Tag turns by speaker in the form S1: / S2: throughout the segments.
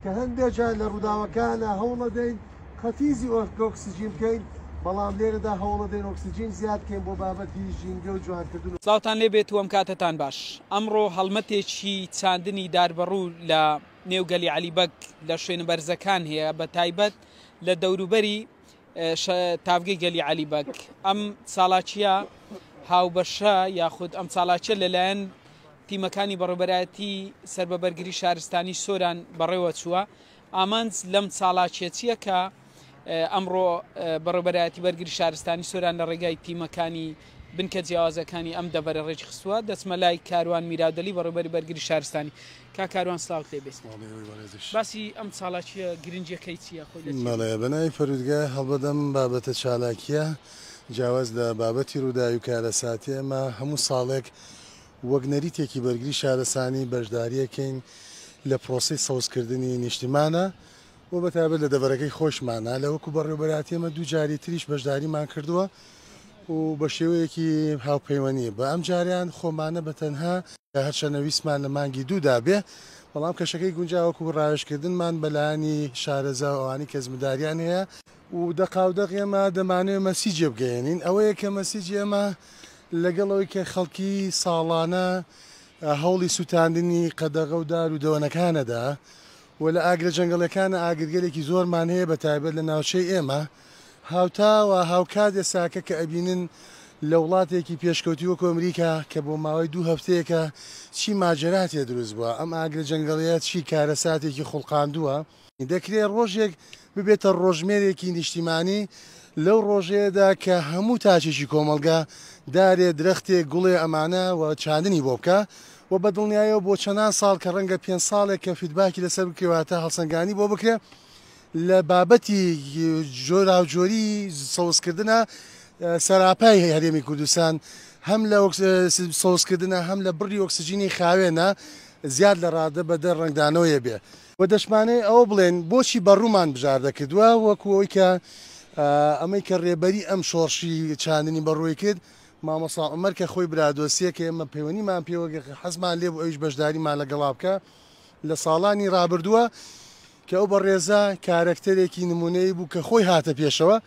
S1: کە هەندێک جار لە ڕووداوەکانە هەوڵەدەین قەتیزی ئۆکسجین بکەین، بەڵام لێرەدا هەوڵەدەین ئۆکسجین زیاد بکەین بۆ بابەتی ژینگە و جوانکردن و. سڵاوتان لێ بێت وەم
S2: کاتەتان باش. ئەمڕۆ هەڵمەتێکی چاندنی داربەڕوو لە نێو گەلی عەلی بەگ لە شوێنە بەرزەکان هەیە بە تایبەت لە دەوروبەری، تاڤگەی گەلی عەلی بەگ ئەم ساڵاچیە هاوبەشە یاخود ئەم ساڵاچە لەلایەن تیمەکانی بەڕێبەرایەتی سەر بە بەرگری شارستانی سۆران بەڕێوە چووە ئامانج لەم ساڵاچێتیە کە ئەمڕۆ بەڕێبەرایەتی بەرگری شارستانی سۆران لە ڕێگای تیمەکانی بنکە جیاوازەکانی ئەم دەڤەرە ڕێکخستووە دەچمە لای کاروان میرادەلی بەڕێوبەری بەرگری شارستانی کا کاروان سلاوت لێ بێت باسی ئەم چالاکیە گرنجەکەی چیە خۆی بەناوی
S3: پەرودگا هەڵبەدەم بابەتە چالاکیە جیاواز لە بابەتی ڕووداوی کارەساتی ئەمە هەموو ساڵێک وەک نەریتێکی بەرگری شارەسانی بەشداریەکەین لە پرۆسی سەوزکردنی نیشتیمانە و بەتابەت لە دەبەرەکەی خۆشمانە لە وەکو بەڕێوبەراتیەمە دوو جاری تریش بەشداریمان کردووە. و بە شێوەیەکی هاوپەیوەنی بە ئەم جاریان خۆمانە بە تەنها هەرچەنە ویسمان لە مانگی دوو دابێ بەڵام کەشەکەی گونجاوەکو ڕاوێشکردنمان بەلایانی شارەزا و ئەوانی کەزمداریان هەیە و دەقاودەق ئێمە دەمانەوێ مەسیجێ بگەیەنین ئەوەیە کە مەسیجی ئێمە لەگەڵ ئەوەی کە خەڵکی ساڵانە هەوڵی سوتاندنی قەدەغە و دار و دەوەنەکانەدا و لە ئاگرە جەنگەڵیەکانە ئاگرگەلێکی زۆرمان هەیە بە تایبەت لە ناوچەی ئێمە هاوتا و هاوکات یەساکە کە ئەبینن لە وڵاتێکی پێشکەوتوی وەکو ئەمریکا کە بۆ ماوەی دوو هەفتەیەکە چی ماجەرا تێ دروست بوە، ئەم ئاگرە جەنگەڵیە چی کارەساتێکی خوڵقاندوە، دەکرێ ڕۆژێک ببێتە ڕۆژمێرێکی نیشتیمانی لەو ڕۆژەیەدا کە هەموو تاکێکی کۆمەڵگا دارێ، درەختێ، گوڵێ ئەمانە و چاندنی بۆ بکا و بە دڵنیایەوە بۆ چەنان ساڵ کە ڕەنگە پێنج ساڵێک کە فیدباکی لەسەر بکرێ واتە هەڵسەنگانی بۆ بکرێ لە بابەتی جۆراوجۆری سەوزکردنا سەراپای هەرێمی کوردستان هەم لە سەوزکردنا هەم لە بڕی ئۆکسجینی خاوێنە زیاد لە ڕادە بە دە ڕەنگدانەوەیە بێ. وە دەشمانەێ ئەوە بڵێن بۆچی بەڕوومان بژاردە کردوە وەکو ئەوەی کە ئەمەی کە ڕێبەری ئەم شۆڕشی چاندنی بەڕووی کرد مامۆسا عومەر کە خۆی برادۆستیە کە ئێمە پەیوەنیمان پێوە حەزمان لێ بوو ئەویش بەشداریمان لە گەڵا بکا لە ساڵانی ڕابردوە کە ئەو بەڕێزە کارەکتەرێکی نموونەیی بوو کە خۆی هاتە پێشەوە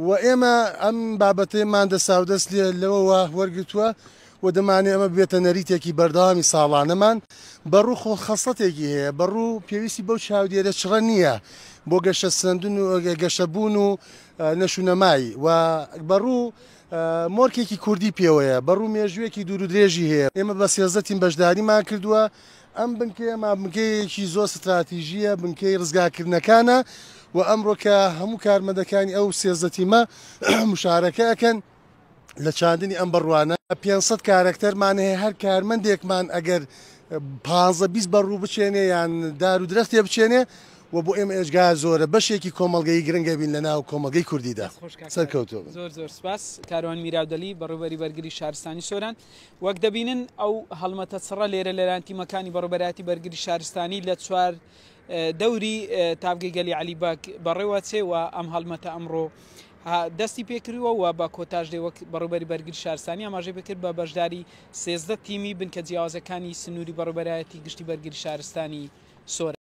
S3: و ئێمە ئەم بابەتەیەمان دەساودەست لێ لەوەوە وەرگرتووە و دەمانەوێت ئەمە ببێتە نەریتێکی بەردەوامی ساڵانەمان. بەڕوو خۆ خەسڵەتێکی هەیە، بەڕوو پێویستی بەو چاودێرە چڕە نییە بۆ گەشەسەندن و گەشەبوون و نەشونەمای و بەڕوو مۆرکێکی کوردی پێوەیە، بەڕوو مێژوویەکی دوورودرێژی هەیە. ئێمە بە سێزدە تیم بەشداریمان کردووە ئەم بنکەیە مابنکەیەیەکی زۆر ستراتیژییە، بنکەی ڕزگارکردنەکانە و ئەمڕۆ کە هەموو کارمەندەکانی ئەو سێزدە تیمە مشارەکە ئەکەن لە چاندنی ئەم بەڕوانە، پێنج سەد کارەکتەرمان هەیە، هەر کارمەندێکمان ئەگەر پانزە بیست بەڕوو بچێنێ یان دار و درەختێ بچێنێ و بۆ ئێمە ئێجگار زۆرە، بەشێکی کۆمەڵگەیی گرنگە بین لەناو کۆمەڵگەی کوردیدا. سەرکەوتوو بن. زۆر زۆر سپاس.
S2: کاروان میراودەلی، بەڕێوەبەری بەرگری شارستانی سۆران. وەک دەبینن ئەو هەڵمەتە چڕە لێرە لەلایەن تیمەکانی بەڕێوەبەرایەتی بەرگری شارستانی لە چوار دەوری تاڤگەی گەلی عەلی بەگ بەڕێوە چێ و ئەم هەڵمەتە ئەمڕۆ دەستی پێکردووە و بە کۆتاش دێ وەک بەڕێوبەری بەرگری شارستانی ئاماژەی پێکرد بە بەشداری سێزدە تیمی بنکە جیاوازەکانی سنووری بەڕێوبەرایەتی گشتی بەرگری شارستانی سۆران.